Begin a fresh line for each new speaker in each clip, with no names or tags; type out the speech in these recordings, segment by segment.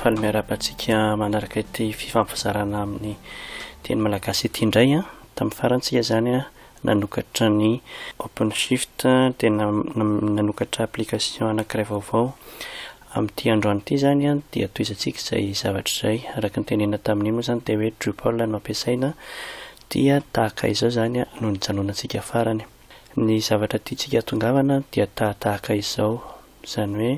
faly miarahaba antsika manaraka ity fifampizarana amin'ny teny malagasy ity indray a tamin'ny farantsika izany a Nanokatra ny OpenShift dia nanokatra application anankiray vaovao. Amin'ity androany ity izany dia tohizantsika izay zavatra izay. Araka ny tenenina tamin'iny moa izany dia hoe Drupal no ampiasaina dia tahaka izao izany no nijanonantsika farany. Ny zavatra tiantsika hahatongavana dia tahatahaka izao, izany hoe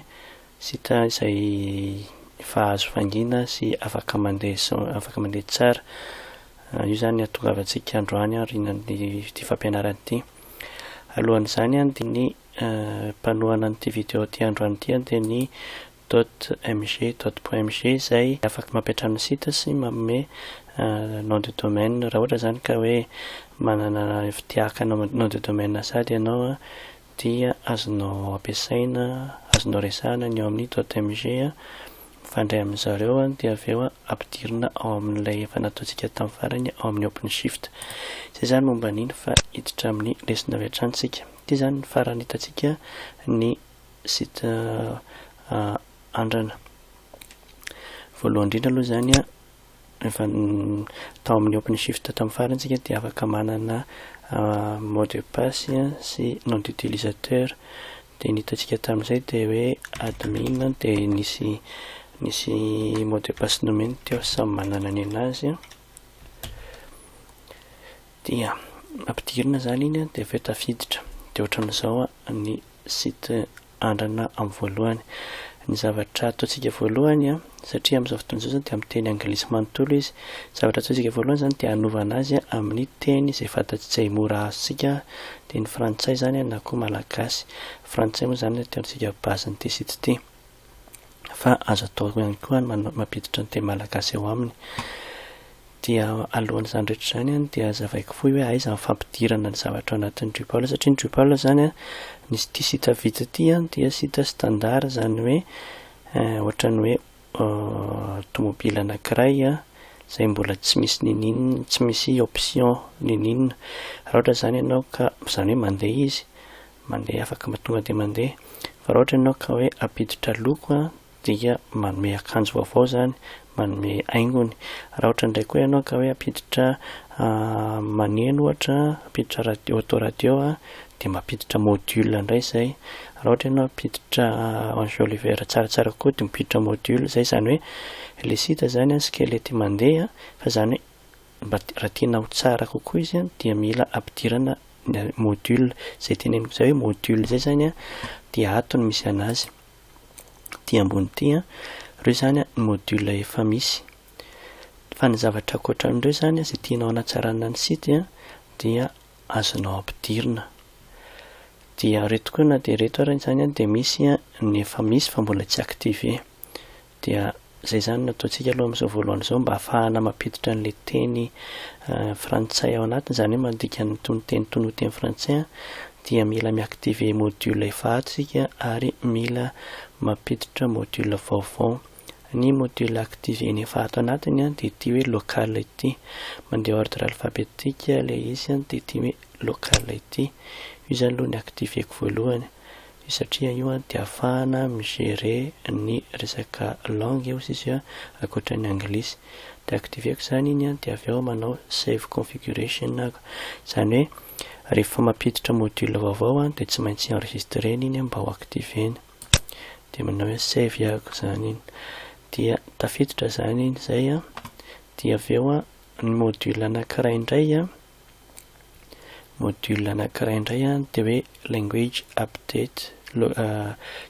Sitra izay efa azo fangina sy afaka mandeha sy afaka mandeha tsara. Io izany ny hatongavantsika androany aorianan'ity fampianarana ity. Alohan'izany dia ny mpanohana an'ity video ity androany ity dia ny .mg, .mg izay afaka mampiantrano ny site sy manome nom de domaine raha ohatra izany ka hoe manana fitia haka nom de domaine sahady ianao dia azonao ampiasaina, azonao resahana ny ao amin'ny .mg mifandray amin-dry zareo dia avy eo ampidirina ao amin'ilay efa nataontsika tamin'ny farany ao amin'ny OpenShift. Izay izany momba an'iny fa hiditra amin'ny lesona avy hatrany isika. Ity izany ny farany hitantsika ny site andrana. Voalohany indrindra aloha izany Rehefa tao amin'ny OpenShift tamin'ny farany isika dia afaka manana mot de passe sy nom d'utilisateur. Dia ny hitantsika tamin'izay dia hoe admin dia nisy nisy mot de passe nomeny teo samy manana ny anazy. Dia ampidirina izany iny dia avy eo tafiditra. Dia ohatran'izao ny site andrana amin'ny voalohany. Ny zavatra ataontsika voalohany a, satria amin'izao fotoana izao izany dia amin'ny teny anglisy manontolo izy, ny zavatra ataontsika voalohany izany dia hanovana azy amin'ny teny izay fantatsika, izay mora azontsika, teny frantsay izany a na koa malagasy. Frantsay moa izany no ataontsika base-n'ity site ity. Fa azo atao ihany koa ny mampiditra ny teny malagasy ao aminy. Dia alohan'izany rehetra izany an, dia hazavaiko fohy hoe aiza ny fampidirana ny zavatra ao anatin'ny Drupal, satria ny Drupal izany an, nisy ity site vita ity an, dia site standard izany hoe ohatran'ny hoe tomobile anankiray an, izay mbola tsy misy niniana, tsy misy option niniana. Raha ohatra izany ianao ka, izany hoe mandeha izy, mandeha afaka tonga dia mandeha, fa raha ohatra ianao ka hoe hampiditra loko an, dia manome akanjo vaovao izany, manome haingony. Raha ohatra indray koa ianao ka hoe hampiditra maneno ohatra, hampiditra radio, autoradio, dia mampiditra module indray izay. Raha ohatra ianao hampiditra enjoliver tsaratsara kokoa dia mampiditra module izay. Izany hoe ilay site izany skelety mandeha fa izany hoe mba raha tiana ho tsara kokoa izy dia mila ampidirana module. Izay teneniko izay hoe module izay izany dia ato no misy an'azy. ety ambony ity an, ireo izany ny module efa misy. Fa ny zavatra ankoatra an'ireo izany izay tianao hanatsarana ny site an dia azonao ampidirina. Dia ireto koa na dia ireto ary izany an dia misy ny efa misy fa mbola tsy activer. Dia izay izany no ataontsika aloha amin'izao voalohany izao mba hahafahana mampiditra an'ilay teny frantsay ao anatiny, izany hoe mandika ny toninteny toy ny ho teny frantsay, dia mila mi-activer module efa ato isika ary mila mampiditra module vaovao. Ny module activer-ny efa ato anatiny dia ity hoe local ity. Mandeha ordre alphabetique ilay izy dia ity hoe local ity. Io izany aloha no ni-activer-ko voalohany. Io satria io an dia afahana mi gérer ny resaka langue io sisa io akoatra ny anglisy de activeko zany iny an de avy eo manao save configuration aho zany hoe rehefa mampiditra module vaovao an de tsy maintsy enregistrena iny an mba ho activena de manao hoe save ahako zany iny dia tafiditra zany iny zay an dia avy eo an ny module anakiray indray an module anankiray indray a dia hoe language update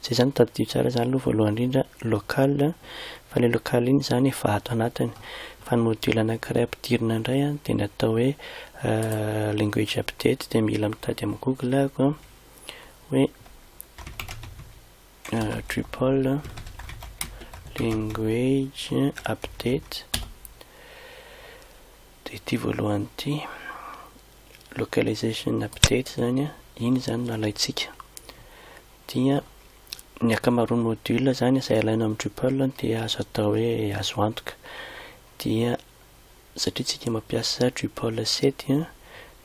zay zany tadidio tsara zany aloha voalohany indrindra local fa le local iny zany efa ato anatiny fa ny module anankiray ampidirina indray a dia ny atao hoe language update dia mila mitady amin'ny google ako a hoe drupal language update Dia ity voalohany ity, localization update izany an, iny izany no alaintsika. Dia ny ankamaroan'ny module izany izay alaina amin'ny Drupal dia azo atao hoe azo antoka. Dia satria tsika mampiasa Drupal 7 an,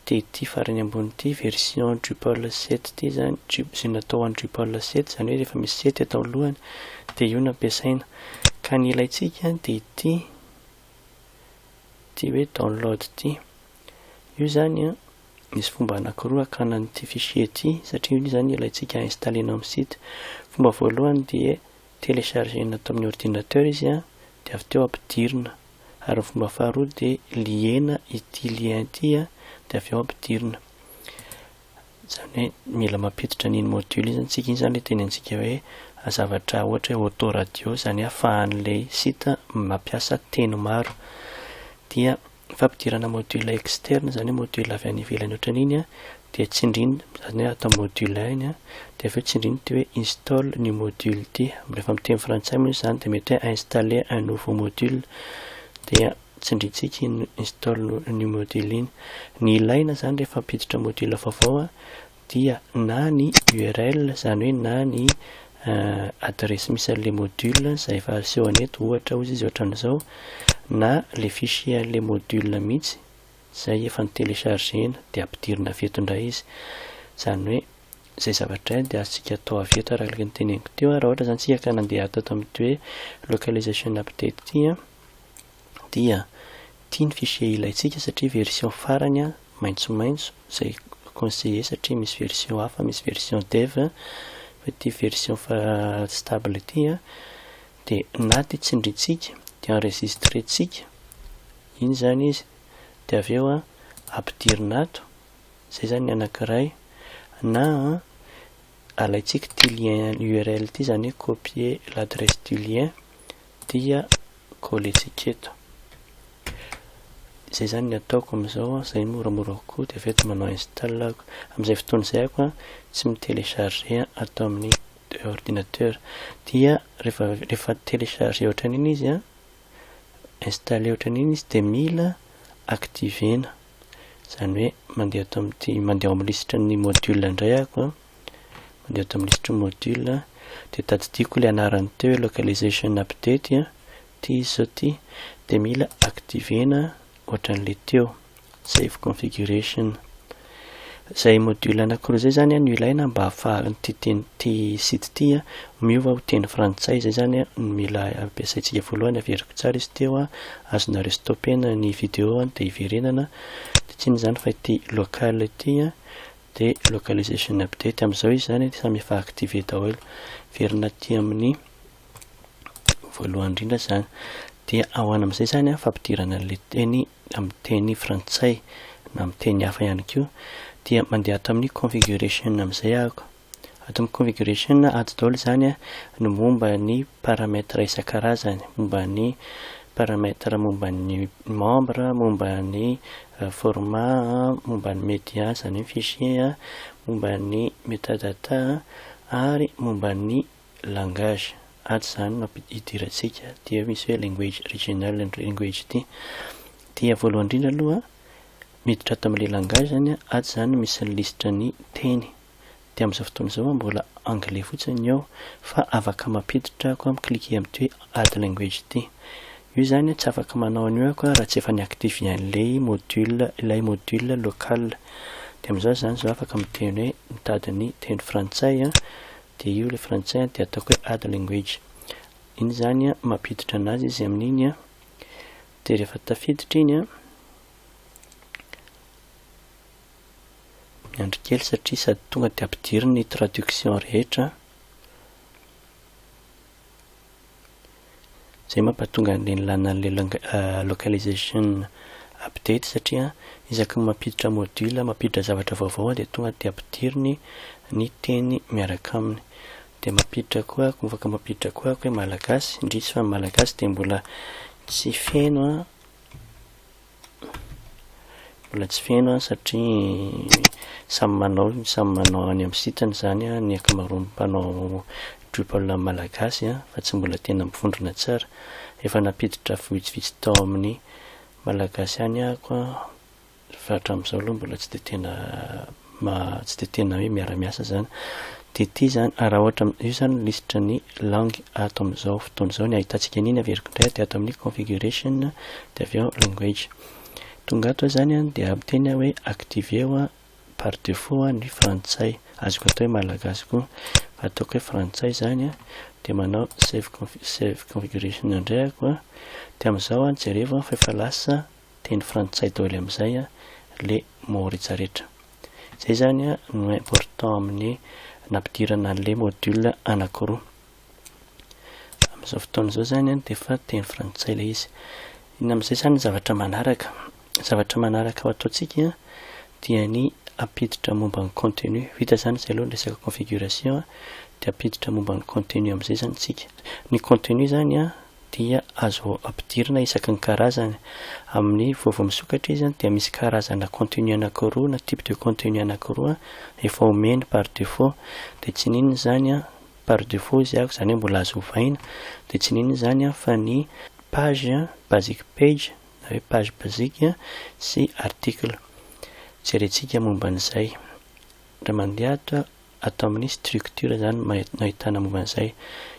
dia ity farany ambony ity version Drupal 7 ity izany, izay natao ho an'ny Drupal 7, izany hoe rehefa misy 7 ato alohany dia io no ampiasaina. Ka ny ilaintsika dia ity ity hoe download ity. Io zany an, misy fomba anakiroa hakana an'ity fichier ity satria io zany ilaintsika installer-na amin'ny site. Fomba voalohany dia telecharger-na ato amin'ny ordinateur izy an, dia avy teo ampidirina. Ary ny fomba faharoa dia lier-na ity lien ity an, dia avy eo ampidirina. Izany hoe mila mampiditra an'iny module iny isika iny izany ilay teny antsika hoe zavatra ohatra hoe autoradio izany hoe afahan'ilay site mampiasa teny maro. Dia fampidirana module externe izany hoe module avy any ivelany ohatran'iny dia tsindriny izany hoe atao module un iny dia avy eo tsindriny ity hoe install new module ity. Rehefa amin'ny teny frantsay moa izany dia mety hoe installer un nouveau module dia tsindrintsika iny install new module iny. Ny ilaina zany rehefa ampiditra module vaovao a dia na ny url zany hoe na ny adiresy misy an'le module zay efa asehony eto ohatra ozy izy ohatran'izao na le fichier an'le module mihitsy zay efa notelechargena de ampidirina avy eto ndray izy zany hoe zay zavatra de azontsika atao avy eto araka ny teneniko teo a raha ohatra zany tsika ka nandeha teto amty hoe localization update ty a dia ity ny fichier ilaintsika satria version farany an, maintsomaintso, izay conseiller satria misy version hafa, misy version dev, fa ity version fa stable ity an, dia na dia tsindrintsika dia enregistrentsika iny izany izy, dia avy eo an, ampidirina ato, izay izany ny anankiray, na an, alaintsika ity lien url ity izany hoe copier l'adresse du lien, dia colletsika eto izay zany ny ataoko amizao an, izay moramora kokoa dia avy eo dia manao install aho amizay fotoana izay aho an tsy mi telecharger ato amin'ny ordinateur dia rehefa rehefa telecharger ohatran'iny izy an installer ohatran'iny izy dia mila activer-na izany hoe mandeha ato amin'ity mandeha ao amin'ny lisitran'ny module indray aho an mandeha tamin'ny lisitry ny module dia tadidiako ilay anarany teo hoe localization update ity izy zao ity dia mila activena ohatran'ilay teo save configuration izay module anankiroa izay zany no ilaina mba hahafahan'ity teny ity site ity miova ho teny frantsay izay zany no mila ampiasaintsika voalohany averiko tsara izy teo azonareo stoppena ny vidéo dia hiverenana dia tsy inona izany fa ity local ity dia localization update amin'izao izy izany dia samy efa activé daholo verina aty amin'ny voalohany indrindra izany dia ahoana amin'izay izany an fampidirana an'ilay teny amin'ny teny frantsay na amin'ny teny hafa ihany koa dia mandeha ato amin'ny configuration amin'izay ahako ato amin'ny configuration ato daholo izany an ny momba ny paramètre isan-karazany momba ny paramètre momba ny membre momba ny Format a Momba ny media, izany hoe fichier a Momba ny metadata a ary momba ny langage ato izany no ampidirantsika dia misy hoe language regional and language ity dia voalohany indrindra aloha miditra ato amin'ilay langage izany a ato izany no misy ny lisitran'ny teny dia amin'izao fotoana izao aho mbola anglais fotsiny ny ao fa afaka mampiditra ako am cliquer amin'ity hoe add language ity. Io izany tsy afaka manao an'io ako raha tsy efa ni-activer an'ilay module ilay module local. Dia amin'izao izany izao afaka miteny hoe mitady ny teny frantsay an, dia io ilay frantsay an dia ataoko hoe add language. Iny izany an mampiditra anazy izy amin'iny an, dia rehefa tafiditra iny an, Miandry kely satria sady tonga dia ampidiriny ny traduction rehetra izay mampatonga an'le nilana an'le localization update satria isaky ny mampiditra module, mampiditra zavatra vaovao dia tonga dia ampidiriny ny teny miaraka aminy. Dia mampiditra koa ako, afaka mampiditra koa ako hoe malagasy, indrisy fa ny malagasy dia mbola tsy feno an. Mbola tsy feno an satria samy manao samy manao any amin'ny site-ny izany an ny ankamaroan'ny mpanao Drupal malagasy an fa tsy mbola tena mivondrona tsara. Efa nampiditra vitsivitsy tao amin'ny malagasy ihany aho an fa hatramin'izao aloha mbola tsy dia tena mba tsy dia tena hoe miara-miasa izany. TT izany, raha ohatra, io izany ny lisitra ny langue ato amin'izao fotoana izao. Ny ahitantsika an'iny averiko indray dia ato amin'ny configuration dia avy eo language. Tonga ato izany dia miteny aho hoe activer ho par défaut ny frantsay. Azoko atao hoe malagasy koa. Fa ataoko hoe frantsay izany dia manao save configuration indray aho koa. Dia amin'izao jerevo fa efa lasa. teny frantsay daoly amizay a le mots rehetra rehetra. Zay zany a no important amin'ny nampidirana anle module anakiroa. Amizao fotoana zao zany a de fa teny frantsay le izy. Inona amizay zany ny zavatra manaraka? Zavatra manaraka ho ataontsika a dia ny ampiditra momba ny contenu. Vita zany zay aloha ny resaka configuration a de ampiditra momba ny contenu amizay zany tsika. Ny contenu zany a dia azo ampidirina isaky ny karazany. Amin'ny voa vao misokatra izy dia misy karazana contenu anakiroa na type de contenu anakiroa efa omeny par defaut dia tsy n'inona izany par defaut izy avy izany hoe mbola azo ovaina dia tsy n'inona izany fa ny page, basic page na hoe page basique sy article. Jerentsika momba an'izay. Raha mandeha ato. Ato amin'ny structure izany no ahitana momba an'izay.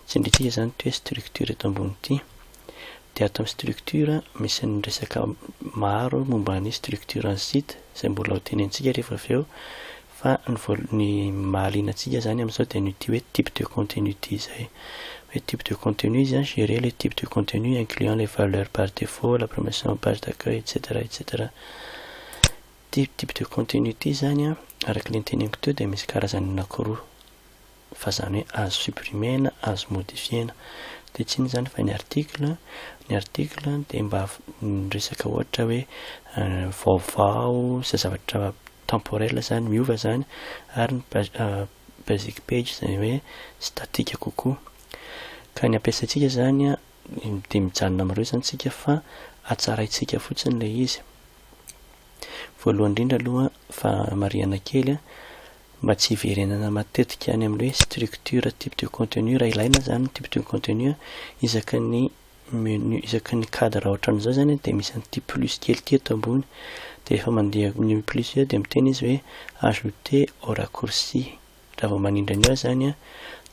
Tsindrintsika izany ity hoe structure eto ambony ity. Dia ato amin'ny structure, misy ny resaka maro momba ny structure an'ny site, izay mbola ho tenentsika rehefa avy eo. Fa ny voalo-, ny mahaliana antsika izany amin'izao dia an'ity hoe type de contenu ity izay. Hoe type de contenu izy an, gérer les types de contenus incluant les valeurs par défaut, la promotion, page d'accueil, etc. Etc. Ity type de contenu ity izany an, araka ilay noteneniko teo dia misy karazany anakiroa, fa izany hoe azo supprimer-na, azo modifier-na. Dia tsy inona izany fa ny article, ny article dia mba miresaka ohatra hoe vaovao, izay zavatra temporel izany, miova izany, ary ny basic page izay hoe statique kokoa. Ka ny ampiasaintsika izany an, Dia mijanona amin'ireo izany isika fa hatsaraintsika fotsiny ilay izy. Voalohany indrindra aloha fa marihana kely mba tsy hiverenana matetika any amin'ny hoe structure type de contenu raha ilaina izany type de contenu isaky ny menu isaky ny cadre ohatran'izao izany dia misy an'ity plus kely ity eto ambony dia rehefa mandeha ny plus eo dia miteny izy hoe ajouter au raccourci Raha vao manindry an'i aho izany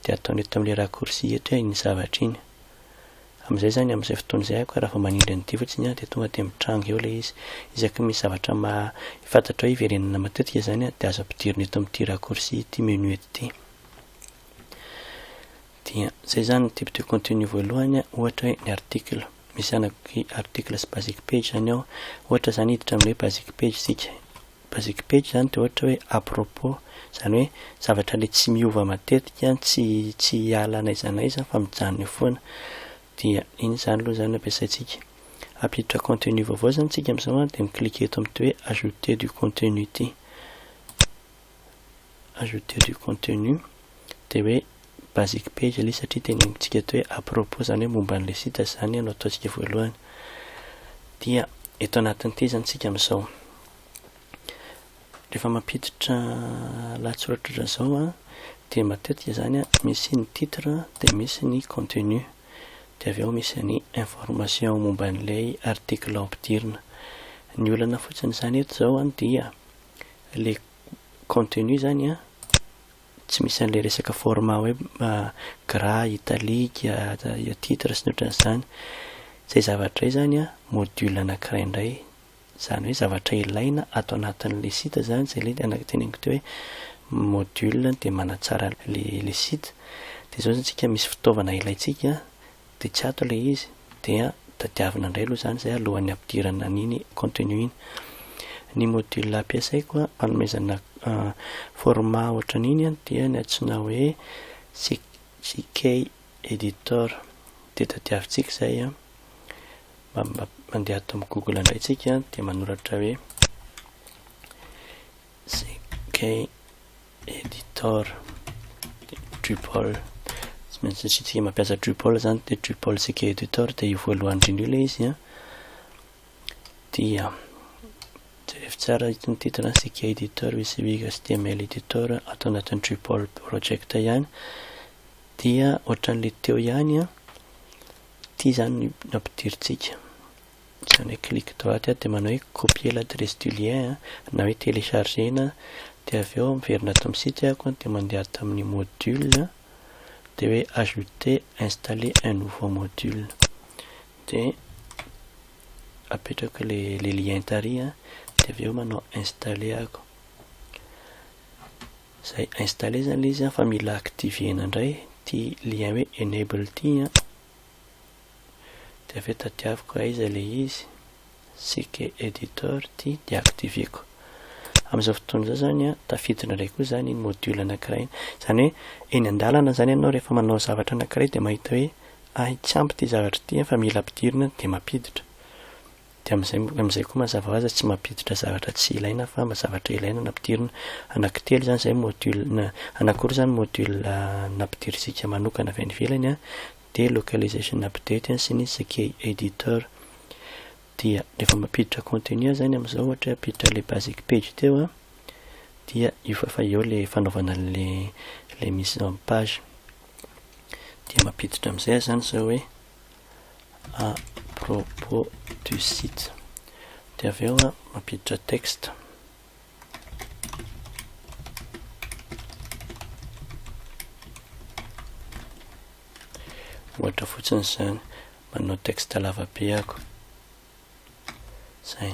dia ataony eto amin'ilay raccourci eto iny zavatra iny. Amin'izay izany amin'izay fotoana izay aho ka raha vao manindry an'ity fotsiny dia tonga dia mitranga eo ilay izy. Isaky ny misy zavatra maha fantatra hoe hiverenana matetika izany dia azo ampidirina eto amin'ity raccourci ity menu ity. Dia izay izany ny type de contenu voalohany ohatra hoe ny article. Misy anaky article sy basic page izany ao. Ohatra izany hiditra amin'ny hoe basic page isika. Basic page izany dia ohatra hoe à propos, izany hoe zavatra ilay tsy miova matetika, tsy tsy hiala n'aiza n'aiza fa mijanona eo foana. Dia iny izany aloha izany no ampiasaintsika. Hampiditra contenu vaovao izany isika amin'izao an, dia mi-cliquer eto amin'ity hoe ajouter du contenu ity. Ajouter du contenu, dia hoe basic page le satria tenenintsika eto hoe à propos zany hoe momba an'le site izany no ataontsika voalohany dia eto anatin'ny tezany tsika amin'izao rehefa mampiditra lahatsoratra ohatran'izao a dia matetika zany a misy ny titre dia misy ny contenu dia avy eo misy ny information momba an'ilay article ampidirina ny olana fotsiny izany eto izao a dia le contenu zany a Tsy misy an'ilay resaka format hoe gras, italique, titre sy ny ohatran'izany. Izay zavatra izay izany an, module anankiray indray. Izany hoe zavatra ilaina ato anatin'ilay site izany, izay ilay teneniko teo hoe module dia manatsara ilay site. Dia izao izany isika misy fitaovana ilaintsika. Dia tsy ato ilay izy, dia tadiavina indray aloha izany izay alohan'ny hampidirana an'iny contenu iny. Ny module ampiasaiko hanomezana format ohatran'iny dia ny antsoina hoe CK Editor. Dia tadiavintsika izay, mandeha ato amin'ny Google indray isika dia manoratra hoe CK Editor, Drupal, tsy maintsy ny site mampiasa Drupal zany dia Drupal CK Editor dia io voalohany indrindra io ilay izy an. Dia jerevy tsara itony titre CK Editor misy wig HTML Editor ato anatin'ny Drupal project ihany. Dia ohatran'ilay teo ihany an. Ity zany nampidirintsika. Tsy hanao hoe clique droite aho dia manao hoe copier l'adresse du lien na hoe télécharger na dia avy eo miverina ato amin'ny site aho dia mandeha ato amin'ny module dia hoe ajouter installer un nouveau module dia apetrako ilay le lien tary dia avy eo manao installer aho izay installer izany ilay izy fa mila activer-na indray ity lien hoe enable ity de avy eo tadiaviko aiza le izy, Sike Editor ty deactiveko. Amin'izao fotoana izao zany an, tafiditra indray koa zany iny module anankiray iny. Zany hoe eny an-dalana zany ianao rehefa manao zavatra anankiray de mahita hoe hay tsy ampy ty zavatra ty an fa mila ampidirina de mampiditra. Dia amin'izay amin'izay koa mazava ho azy tsy mampiditra zavatra tsy ilaina fa zavatra ilaina no ampidirina. Anankitelo izany izay module na anankiroa izany module nampidirintsika manokana avy any ivelany an, dia localization update an sy ny CK editor. Dia rehefa mampiditra contenu izany amin'izao ohatra hoe hampiditra ilay basic page teo an, dia io fa efa eo ilay fanaovana an'ilay ilay mise en page. Dia mampiditra amin'izay aho izany izao hoe. à propos du site dia avy eo a mampiditra texte ohatra fotsiny izany manao texte lavabe ako zay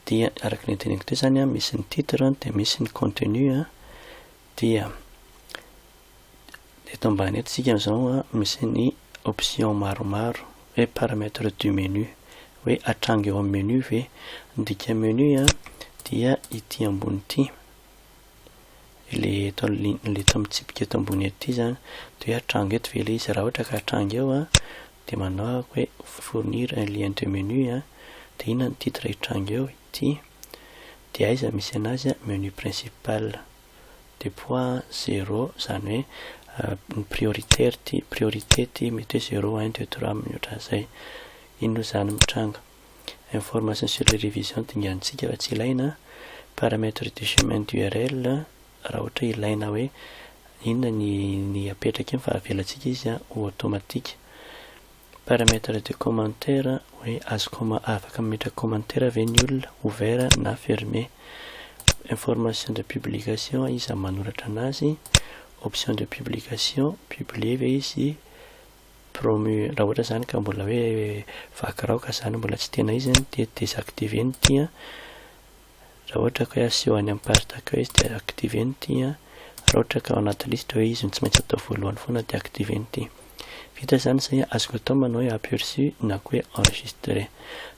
dia araka ny teneniko teo zany a misy ny titre dia misy ny contenu a dia Eto ambany eto isika izao an, misy ny option maromaro hoe paramètre du menu hoe atranga eo amin'ny menu ve? Ny dika menu an dia ity ambony ity, ilay eto ilay eto amin'ny tsipika eto ambony eto ity izany dia hoe atranga eto ve ilay izy? Raha ohatra ka atranga eo an dia manao aho hoe fournir un lien de menu an dia inona ny titre hitranga eo? Ity, dia aiza misy an'azy an? Menu principal. de poids zero zany hoe ny prioritaire ty priorité ty mety hoe zero un deux trois mihoatra zay inona oa zany mitranga information sur les révisions dingantsika fa tsy ilaina paramètre de chemin d'url raha ohatra ilaina hoe inona ny ny apetraka eny fa avelatsika izy ho automatique Paramètre de commentaire hoe azo com afaka mametraka commentaire ve ny olona, ouvert na fermé. Information de publication iza manoratra anazy. Option de publication, publier ve izy, promu raha ohatra zany ka mbola hoe vaky rao ka zany mbola tsy tena izy dia desactiver ny ity an. Raha ohatra ka hoe aseho any amin'ny page d'accueils dia activer ny ity an, raha ohatra ka ao anaty liste hoe izy no tsy maintsy atao voalohany foana dia activer ny ity. Vita izany izay an, azoko atao ny manao hoe aperçu na koa hoe enregistrer.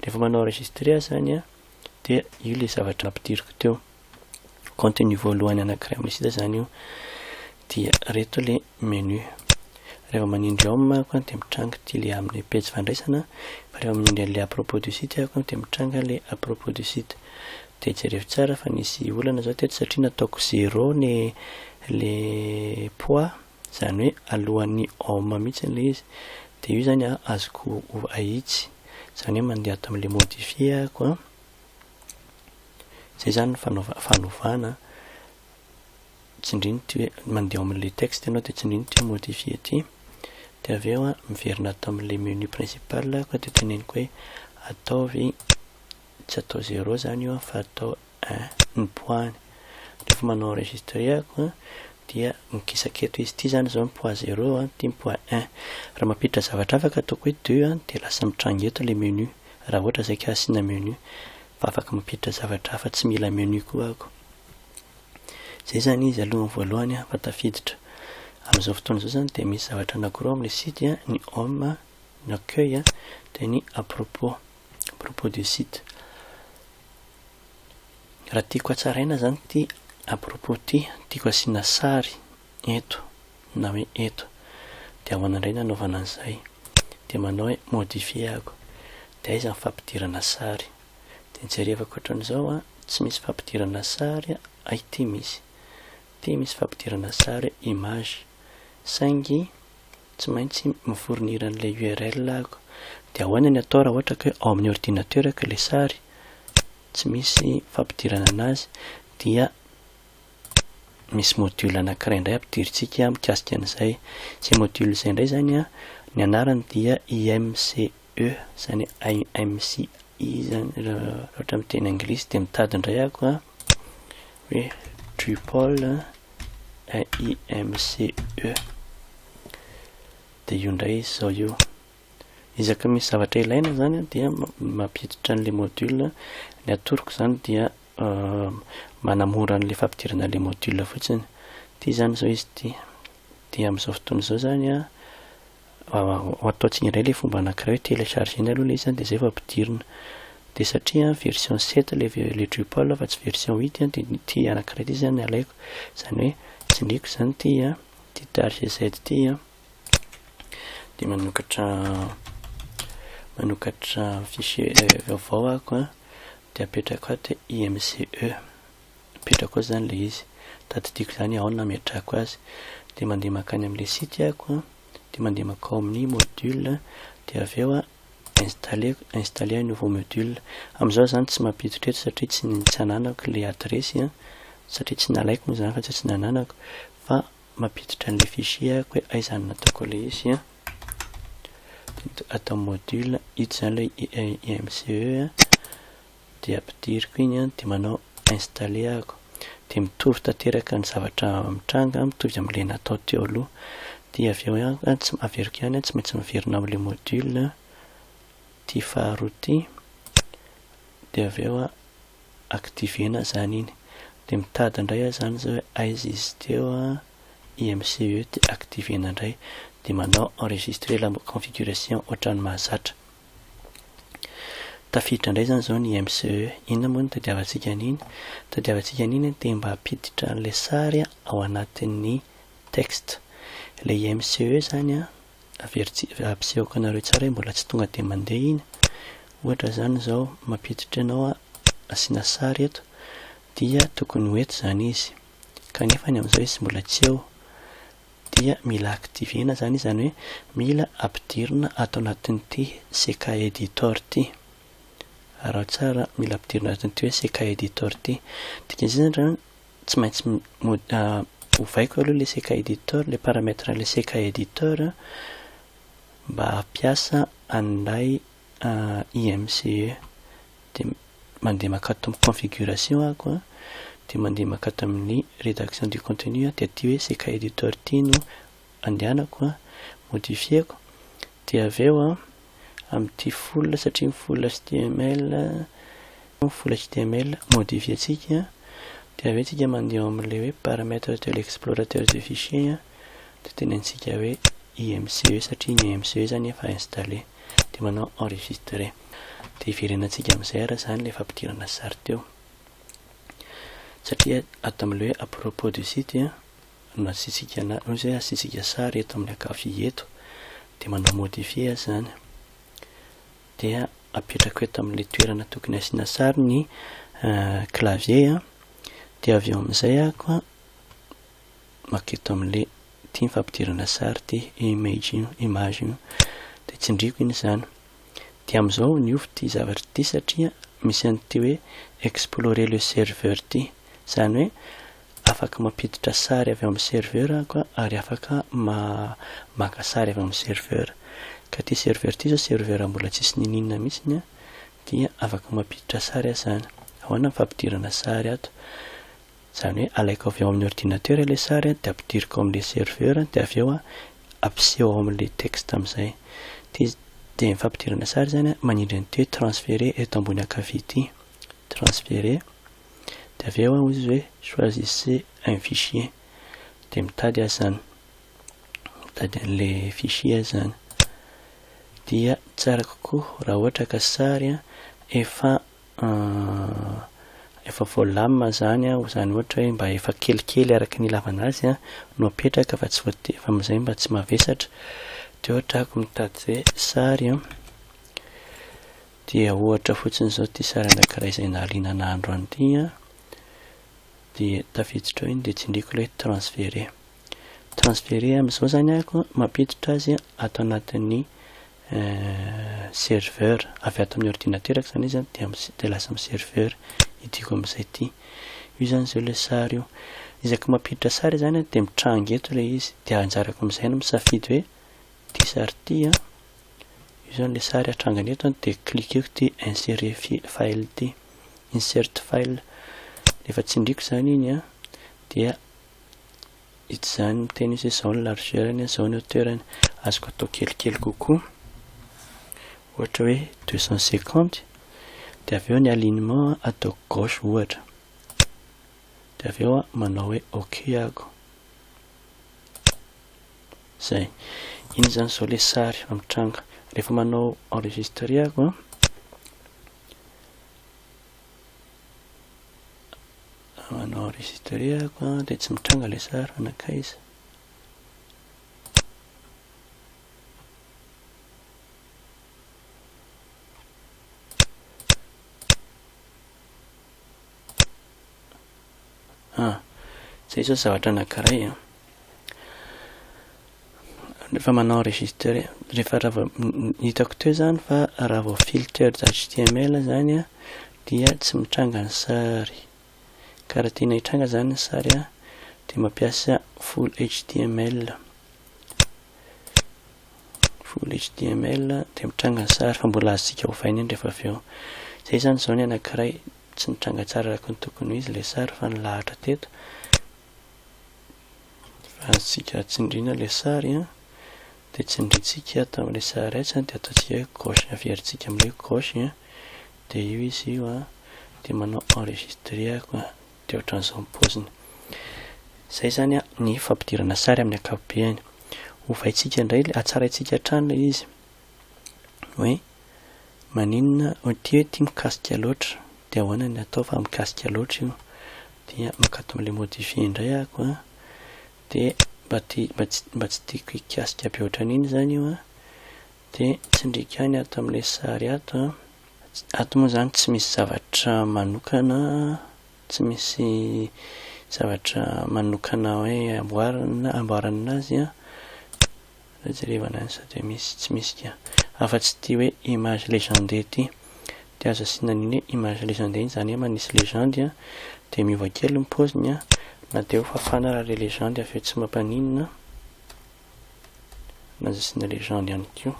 Rehefa manao enregistrer aho izany an, dia io ilay zavatra nampidiriko teo. Contenu voalohany anakiray amin'ny site izany io. Dia ireto ilay Menu. Rehefa manindry Home aho dia mitranga ity le amle pejy fandraisana fa rehefa manindry anle à propos du site aho dia mitranga le à propos du site. Dia jereo tsara fa nisy olana zao teto satria nataoko zero ny le poids izany hoe alohan'ny Home mihitsy ilay izy. Dia io izany azoko ahitsy. Izany hoe mandeha ato amin'ilay modifier aho. Izay izany ny fanaovana, fanovana. tsindrio ity hoe mandeha ao amin'ilay texte ianao dia tsindrio ity hoe modifier ity dia avy eo miverina ato amin'ilay menu principal aho dia teneniko hoe ataovy tsy atao zéro izany io fa atao un ny poids-ny rehefa manao enregistrer ako dia mikisaka eto izy ity izany izao ny poids zéro ity ny poids un raha mampiditra zavatra hafa ka ataoko hoe deux dia lasa mitranga eto ilay menu raha ohatra izay ka asiana menu fa afaka mampiditra zavatra hafa tsy mila menu koa ako Izay izany izy alohan'ny voalohany fa tafiditra. Amin'izao fotoana izao izany dia misy zavatra anankiroa amin'ny site, ny home, ny accueil dia ny à propos, à propos du site. Raha tiako hatsaraina izany ity à propos ity, tiako asiana sary eto na hoe eto. Dia ahoana indray ny hanaovana an'izay? Dia manao hoe modifier aho. Dia aiza ny fampidirana sary? de jerevako otrany zao a tsy misy fampidirana sary a ay ty misy ty misy fampidirana sary image saingy tsy maintsy mi fournir an'ilay url aho de ahoana ny atao raha ohatra ka hoe ao amin'ny ordinateur ko le sary tsy misy fampidirana anazy dia misy module anakiray indray ampidirintsika mikasika an'izay zay module zay indray zany a ny anarany dia imcc. E, izany hoe I am sy he izany raha ohatra amin'ny teny anglisy dia mitady indray aho koa hoe triple IMCE dia io indray izy izao io izaka misy zavatra ilaina izany dia mampiditra an'ilay module ny atoroko izany dia euh, manamora an'ilay fampidirana ilay module fotsiny ity izany izao izy ity dia amin'izao fotoana izao izany a Ataontsika indray ilay fomba anankiray hoe telecharger-ny aloha ilay izy dia izay vao ampidirina. Dia satria version sept ilay ilay Drupal fa tsy version huit dia ity anankiray ity izany no alaiko. Izany hoe tsindriako izany ity a, ity targz ity a, dia manokatra manokatra fichier vaovao aho dia apetrako ato hoe imge. Mipetraka ao izany ilay izy. Tadidiko izany ao no nametrahako azy. Dia mandeha mankany amin'ilay site aho, dia mandeha mankao amin'ny module, dia avy eo installer, installer un nouveau module. Amin'izao izany tsy mampiditra eto satria tsy tsy ananako ilay adiresy an, satria tsy nalaiko moa izany fa tsy tsy nananako, fa mampiditra an'ilay fichier aho hoe aiza no nataoko ilay izy an. Dia ato amin'ny module, ito izany ilay IMCE an. Dia ampidiriko iny an dia manao installer aho dia mitovy tanteraka ny zavatra mitranga mitovy amin'ilay natao teo aloha dia avy eo ihany an tsy averiko ihany an tsy maintsy miverina ao amin'ilay module ity faharoa ity dia avy eo an activer-na izany iny dia mitady indray aho izany izao hoe aiza izy teo an IMCE dia activer-na indray dia manao enregistrer la configuration ohatran'ny mahazatra Tafiditra indray izany izao ny MCE. Inona moa no tadiavantsika an'iny? Tadiavantsika an'iny ny te mba hampiditra an'ilay sary ao anatin'ny texte. Ilay MCE izany averitsika, ampisehoako anareo tsara hoe mbola tsy tonga dia mandeha iny. Ohatra izany izao, mampiditra ianao asiana sary eto, dia tokony ho eto izany izy, kanefa ny amin'izao izy mbola tsy eo. dia mila activer-na zany izany hoe mila ampidirina ato anatin'ity CK Editor ity. Araho tsara, mila ampidirina ato anatin'ity hoe CK Editor ity. Dikan'izay zany zany tsy maintsy ovaiko aloha ilay CK Editor, ilay paramètre an'ilay CK Editor mba hampiasa an'ilay IMCE dia mandeha mankato amin'ny configuration aho an, dia mandeha mankato amin'ny redaction du contenu aho, dia aty hoe izay cahier du tort ity no andehanako an, modifier-ko, dia avy eo an, amin'ity full satria ny full html, ny full html modifier-tsika an, dia avy eo tsika mandeha ao amin'ilay hoe paramètre de l'explorateur de fichier an, dia tenenintsika hoe IMCE satria ny IMCE izany efa installer. dia manao enregistrer dia hiverenantsika amin'izay ary izany ilay fampidirana sary teo satria ato amin'ilay hoe à propos de ci dia no asiantsika ana no izay asiantsika sary eto amin'ny ankavia eto dia manao modifier azy izany dia apetrako eto amin'ilay toerana tokony asiana sary ny clavier dia avy eo amin'izay ako maka eto amin'le ity ny fampidirana sary ity image io image io de tsindriako iny izany de amin'izao niova ity zavatra ity satria misy an'ity hoe explorer le serveur ity izany hoe afaka mampiditra sary avy amin'ny serveur aho ka ary afaka ma maka sary avy amin'ny serveur ka ity serveur ity izao serveur mbola tsisy nininona mihitsy ny dia afaka mampiditra sary aho izany ahoana ny fampidirana sary ato Izany hoe alaiko avy ao amin'ny ordinateur ilay sary dia ampidiriko ao amin'ilay serveur dia avy eo ampiseho ao amin'ilay texte amin'izay. Dia dia ny fampidirana sary izany manindry an'ity hoe transférer eto ambony ankavia ity. Transférer. Dia avy eo hozy izy hoe choisissez un fichier. Dia mitady azy izany. Mitady an'ilay fichier azy izany. Dia tsara kokoa raha ohatra ka sary efa Ahh, efa voalamina izany an, izany ohatra hoe mba efa kelikely araka ny ilavana azy an no apetraka fa tsy voate, fa amin'izay mba tsy mavesatra, dia ohatra ako mitady hoe sary an, dia ohatra fotsiny izao ity sary anankiray izay nahalinana andro any ity an, dia tafiditra ao iny dia tsindriako ilay hoe transférer, transférer amin'izao izany ako an, mampiditra azy ato anatin'ny serveur, avy ato amin'ny ordinaterako zany izy dia dia lasa amin'ny serveur io tiako amin'izay ity. Io zany izao ilay sary io. Isaky mampiditra sary zany aho dia mitranga eto ilay izy dia anjarako amin'izay no misafidy hoe ity sary ity an, io zany ilay sary hatrangany eto an dia cliqueko ity insérer file ity, insert file, rehefa tsindriko zany iny an dia. Ity izany miteny hoe izay izao ny largeur-ny, izao ny hauteur-ny. Azoko atao kelikely kokoa, ohatra hoe deux cent cinquante, dia avy eo ny alignement ataoko gauche ohatra. Dia avy eo manao hoe ok aho. Izay. Iny izany izao ilay sary vao mitranga. Rehefa manao enregistrer aho, Manao enregistre ako an de tsy mitranga le sary fa nankaiza. Ah, zay zao zavatra anankiray an. Rehefa manao register, rehefa raha vao, ny hitako teo izany fa raha vao filtered html izany an, dia tsy mitranga ny sary. Ka raha tiana hitranga izany ny sary an, dia mampiasa full html. Full html, dia mitranga ny sary, fa mbola azontsika ovaina indry rehefa avy eo. Izay izany izao ny anankiray, tsy nitranga tsara araka ny tokony ho izy ilay sary fa nilahatra teto. Raha azontsika tsindriana ilay sary an, dia tsindrintsika ato amin'ilay sary S an, dia ataontsika hoe gauche, averintsika amin'ilay hoe gauche an, dia io izy io an, dia manao enregistrer aho an, dia ohatran'izao ny paoziny. Izay izany an, ny fampidirana sary amin'ny ankapobeny. Ovaintsika indray, hatsaraintsika hatrany ilay izy hoe. Maninona oh ty hoe ty mikasika loatra de ahoana ny atao fa mikasika loatra io dia mankato amle modifier indray ah ko ah de mba ty mba tsy tiako hikasika be otran'iny zany io ah de tsindriko ihany ato amle sary ato ah ato moa zany tsy misy zavatra manokana tsy misy zavatra manokana hoe amboarina amboarana azy ah. Jerevana any sa dia misy tsy misy ka. Afa tsy ity hoe image legende ity. Dia aza asiana an'iny hoe image legende iny izany hoe manisy legende an, dia miova kely ny paoziny an, na dia eo fafana ary ilay legende avy eo tsy mba mpaninona, na aza asiana legende ihany koa.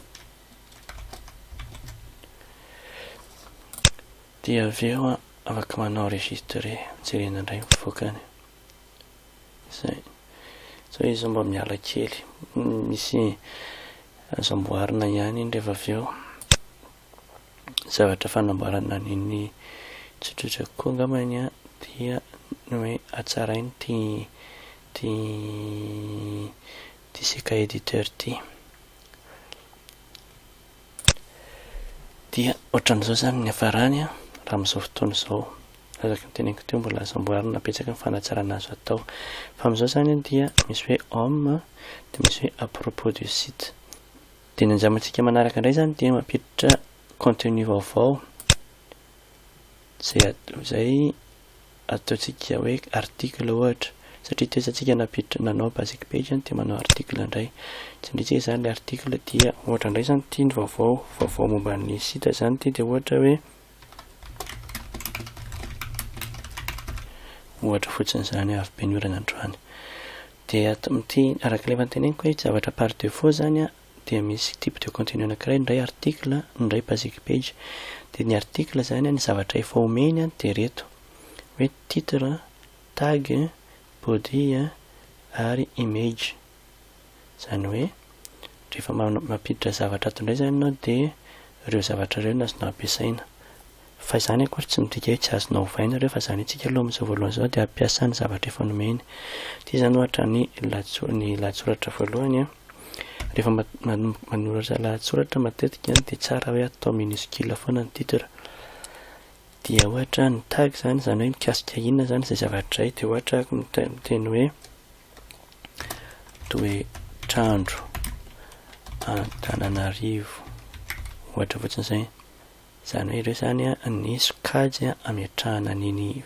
Dia avy eo an, afaka manao enregistrer, jerena indray mivoaka any. Zay. Sao izy zao mba miala kely. Misy azo amboarina ihany iny rehefa avy eo. Zavatra fanamboarana an'iny tsotsotra kokoa angamba iny an, dia ny hoe hatsaraina ity ity ity seka editeur ity. Dia ohatran'izao izany ny hafarany an, raha amin'izao fotoana izao, araka ny teneniko teo mbola azo amboarina betsaka ny fanatsarana azo atao. Fa amin'izao izany an dia misy hoe homme dia misy hoe à propos du site. Dia ny anjamantsika manaraka indray izany dia mampiditra contenu vaovao izay izay ataontsika hoe article ohatra satria toetsantsika nampiditra nanao basic page zany dia manao article indray tsindritsika izany le article dia ohatra indray zany ity ny vaovao vaovao momba ny site zany ity dia ohatra hoe ohatra fotsiny izany avy be ny orana androany dia ato amin'ity araka ilay efa teneniko hoe zavatra par defaut zany a dia misy type de contenu anankiray, ny iray article, ny iray basic page. Dia ny article izany, ny zavatra efa omeny dia ireto, hoe titre, tag, body ary image. Izany hoe rehefa mampiditra zavatra ato indray izany ianao dia ireo zavatra ireo no azonao ampiasaina. Fa izany akory tsy midika hoe tsy azonao ovaina ireo fa izany antsika aloha amin'izao voalohany izao dia hampiasa ny zavatra efa nomeny. Ity izany ohatra ny lahatso- ny lahatsoratra voalohany an, rehefa ma- man- manoratra lahatsoratra matetika an dia tsara hoe atao minuscule foana ny titre. Dia ohatra ny tag izany, izany hoe mikasika inona izany izay zavatra izay dia ohatra aho mita- miteny hoe toetr'andro Antananarivo ohatra fotsiny izay. Izany hoe ireo izany ny sokajy ametrahana an'iny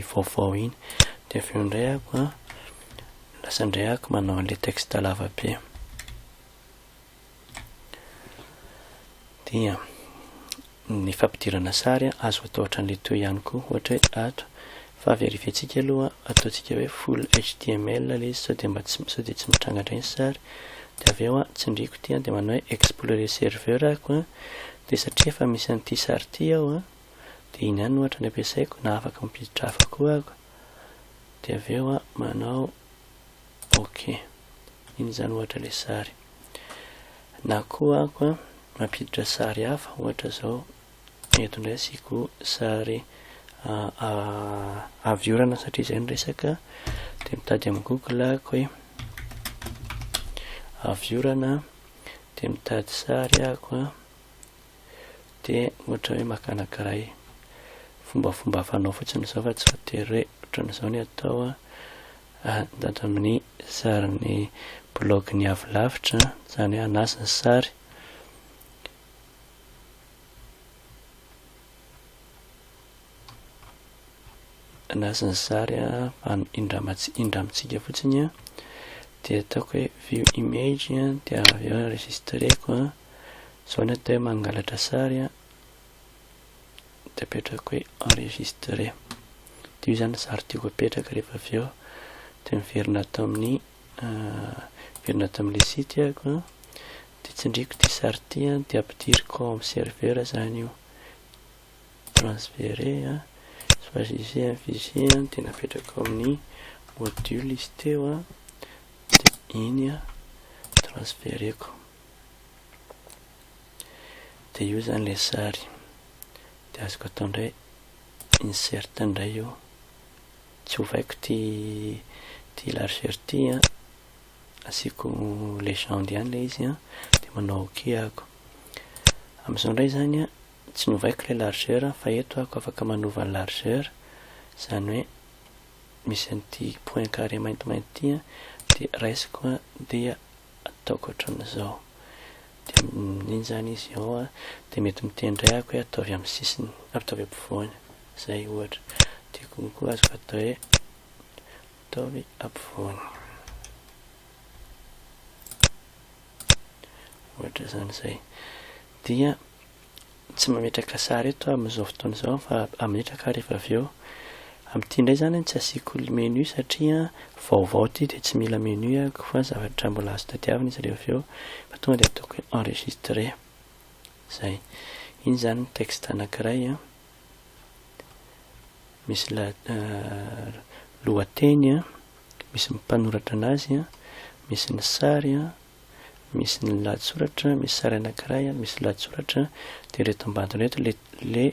vaovao iny. Dia avy eo indray ako a, lasa indray ako manao an'ilay texte lava be. Dia ny fampidirana sary azo atao ohatran'ilay toy ihany koa, ohatra hoe ato Fa verifientsika aloha, ataontsika hoe full html ilay izy sao dia mba tsy sao dia tsy mitranga indray ny sary. Dia avy eo an, tsindriako ity an, dia manao hoe explorer serveur ako an, dia satria efa misy an'ity sary ity ao an, dia iny ihany no ohatra no ampiasaiko na afaka mampiditra hafa koa ako. Dia avy eo an, manao ok. Iny izany ohatra ilay sary. Na koa ako an, mampiditra sary hafa ohatra izao Eto indray asiako sary avy orana satria izay ny resaka dia mitady amin'ny google ako hoe avy orana dia mitady sary ako a dia ohatra hoe makana kiray fombafomba fanao fotsiny izao fa tsy voatery hoe ohatran'izao ny atao a mitady amin'ny sarin'ny blog ny avy lavitra izany hoe anasa ny sary Anasa ny sary a, fa indramats- indramitsika fotsiny a, dia ataoko hoe view image a, dia avy eo enregistreko a, zao ny atao hoe mangalatra sary a, dia apetrako hoe enregistré, dia io zany sary tiako apetraka, rehefa avy eo dia miverina ato amin'ny miverina ato amin'ilay site aho a. De tsindriako ty sary ity an de ampidiriko ao am serveur zany io de transfere a choisissez un fichier an de napetrako ao amin'ny module izy teo a de iny a transfereko de io zany le sary de azoko atao ndray insert ndray io tsy ovaiko ty ty largeur ty a asiako legende ihany ilay izy an, dia manao ok aho, amin'izao indray izany an tsy novaiko ilay largeur fa eto aho afaka manova ny largeur, izany hoe misy an'ity point carré maintimainty ity an dia raisiko an dia ataoko ohatran'izao, dia amin'iny izany izy ao an dia mety miteny indray aho hoe ataovy amin'ny sisiny na ataovy ampovoany izay ohatra, dia koa azoko atao hoe. Ataovy ampovoany. Ohatra izany izay. Dia tsy mametraka sary eto amin'izao fotoana izao fa ametraka ary efa avy eo. Amin'ity indray izany no tsy asiako menu satria vaovao ity dia tsy mila menu ako fa zavatra mbola azo tadiavina izy rehefa avy eo fa tonga dia ataoko enregistrer. Izay. Iny izany ny texte anankiray an. misy lohateny an, misy ny mpanoratra anazy an, misy ny sary an, misy ny lahatsoratra, misy sary anankiray an, misy lahatsoratra, dia ireto ambadiny ireto le le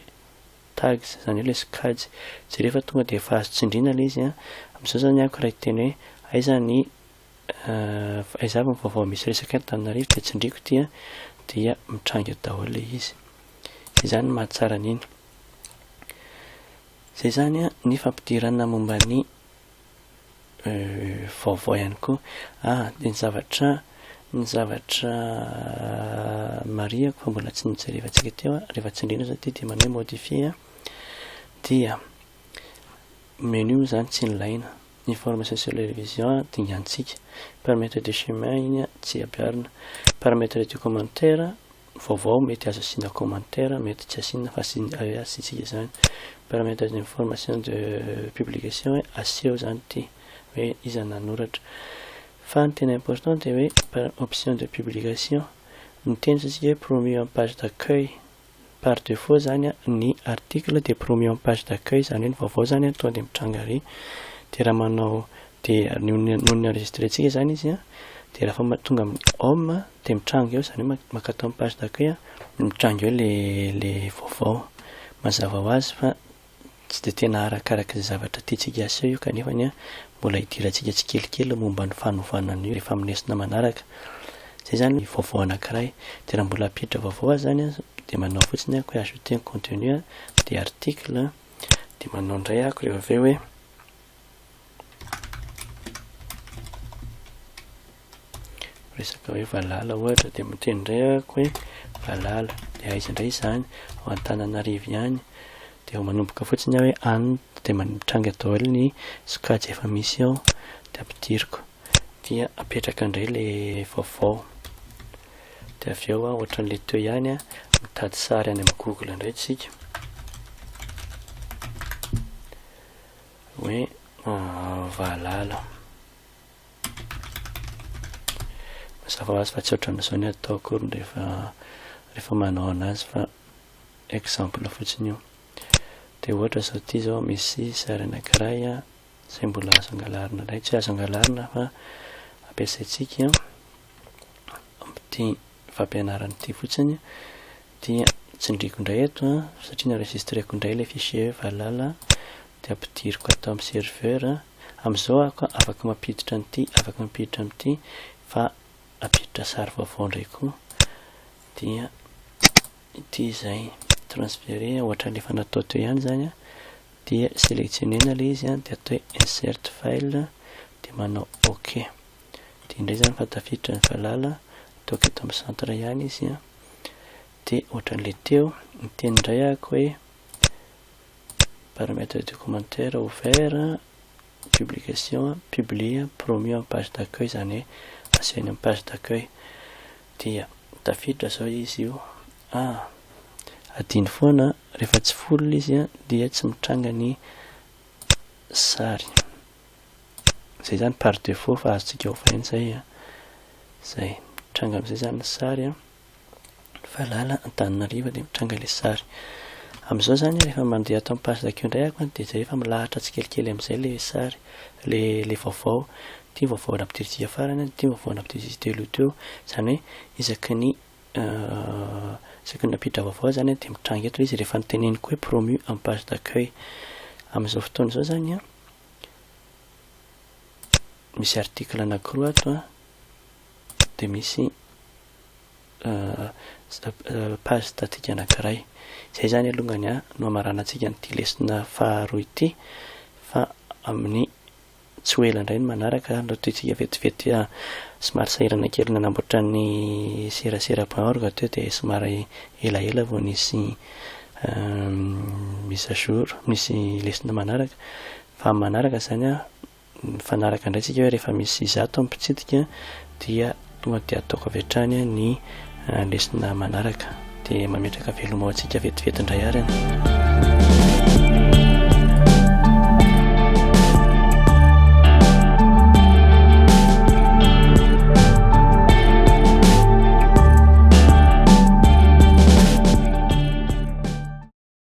tags izany hoe le sokajy. Jereo fa tonga dia efa azo tsindriana le izy an. Amin'izao izany ako raha hiteny hoe aiza ny aiza avy ny vaovao misy resaka eto Antananarivo dia tsindriako ity an, dia mitranga eo daholo le izy. Zay zany ny mahatsara an'iny. Zay zany ny fampidirana momba ny vaovao ihany koa. Ah, dia ny zavatra ny zavatra marihako fa mbola tsy nojerevantsika teo rehefa tsindriana zao ity dia manao hoe modifier dia menu moa zany tsy nilaina information sur les révisions dingantsika paramètre de chemin iny tsy ampiharina paramètre du commentaire vaovao mety azo asiana commentaire mety tsy asiana fa asiantsika izany permettre des informations de publication hoe aseho izany ity hoe iza no nanoratra fa ny tena important dia hoe par option de publication miteny isika hoe promu en page d'accueil par defaut izany ny article dia promu en page d'accueil izany hoe ny vaovao izany tonga dia mitranga ary dia raha manao dia noho ny enregistrentsika izany izy dia raha fa tonga amin'ny home Dia mitranga eo izany hoe mankatò an'i page d'accueil an, mitranga eo ilay ilay vaovao. Mazava ho azy fa tsy dia tena arakaraka izay zavatra tiantsika haseho io kanefany an, mbola hidirantsika tsikelikely momba ny fanovana an'io rehefa amin'ny lesona manaraka. Izay izany ny vaovao anankiray. Dia raha mbola hampiditra vaovao aza izany an, dia manao fotsiny aho hoe ajouter un contenu an, dia article an, dia manao indray aho rehefa avy eo hoe. resaka hoe valala ohatra dia miteny indray ako hoe valala dia aiza indray izany ao antananarivo ihany dia ho manomboka fotsiny aho hoe any dia mitranga daholo ny sokajy efa misy ao dia ampidiriko dia apetraka indray le vaovao dia avy eo aho ohatran'le teo ihany a mitady sary any amin'ny google indray tsika hoe ah, valala Mazava ho azy fa tsy ohatran'izao ny atao akory rehefa rehefa manao anazy fa exemple fotsiny io. Dia ohatra izao ity izao misy sary anankiray a izay mbola azo angalarina indray tsy azo angalarina fa ampiasaintsika amin'ity fampianarana ity fotsiny dia tsindriko indray eto a satria ny enregistreko indray ilay fichier valala dia ampidiriko ato amin'ny serveur Amin'izao aho ka afaka mampiditra an'ity, afaka mampiditra amin'ity, fa hampiditra sary vaovao indray koa, dia ity izay, transférer ohatran'ny efa natao teo ihany izany an, dia sélectionner-na ilay izy an, dia atao hoe insert file, dia manao ok, dia indray izany fa tafiditra ny valala, ataoko eto amin'ny centre ihany izy an, dia ohatran'ilay teo, miteny indray aho ka hoe, Paramètres du commentaire ouvert, publication, publie, promu amin'ny page d'accueil izany hoe aseho eny amin'ny page d'accueil. Dia tafiditra izao izy io. A, Adino foana, rehefa tsy full ilay izy dia tsy mitranga ny sary. Izay izany par défaut fa azontsika ovaina izay. Izay, mitranga amin'izay izany ny sary. Valala, Antananarivo dia mitranga ilay sary. Amin'izao izany rehefa mandeha ato amin'ny page d'accueil indray aho dia izay efa milahatra tsikelikely amin'izay ilay sary, ilay ilay vaovao. Ity ny vaovao nampidirintsika farany, ity ny vaovao nampidirintsika teo aloha teo. Izany hoe isaky ny isaky ny nampiditra vaovao izany dia mitranga eto ilay izy rehefa noteneniko hoe promu en page d'accueil. Amin'izao fotoana izao izany an, misy article anankiroa ato an, dia misy page statique anankiray. Izay izany alongany no hamaranantsika an'ity lesona faharoa ity fa amin'ny tsy ho ela indray ny manaraka no tohitsika vetivety somary sahirana kely nanamboatra ny serasera point org teo dia somary elaela vao nisy mise à jour, nisy lesona manaraka fa manaraka izany Mifanaraka indray tsika hoe rehefa misy zato ny mpitsidika dia tonga dia ataoko avy hatrany ny lesona manaraka dia mametraka veloma ho antsika vetivety indray arany.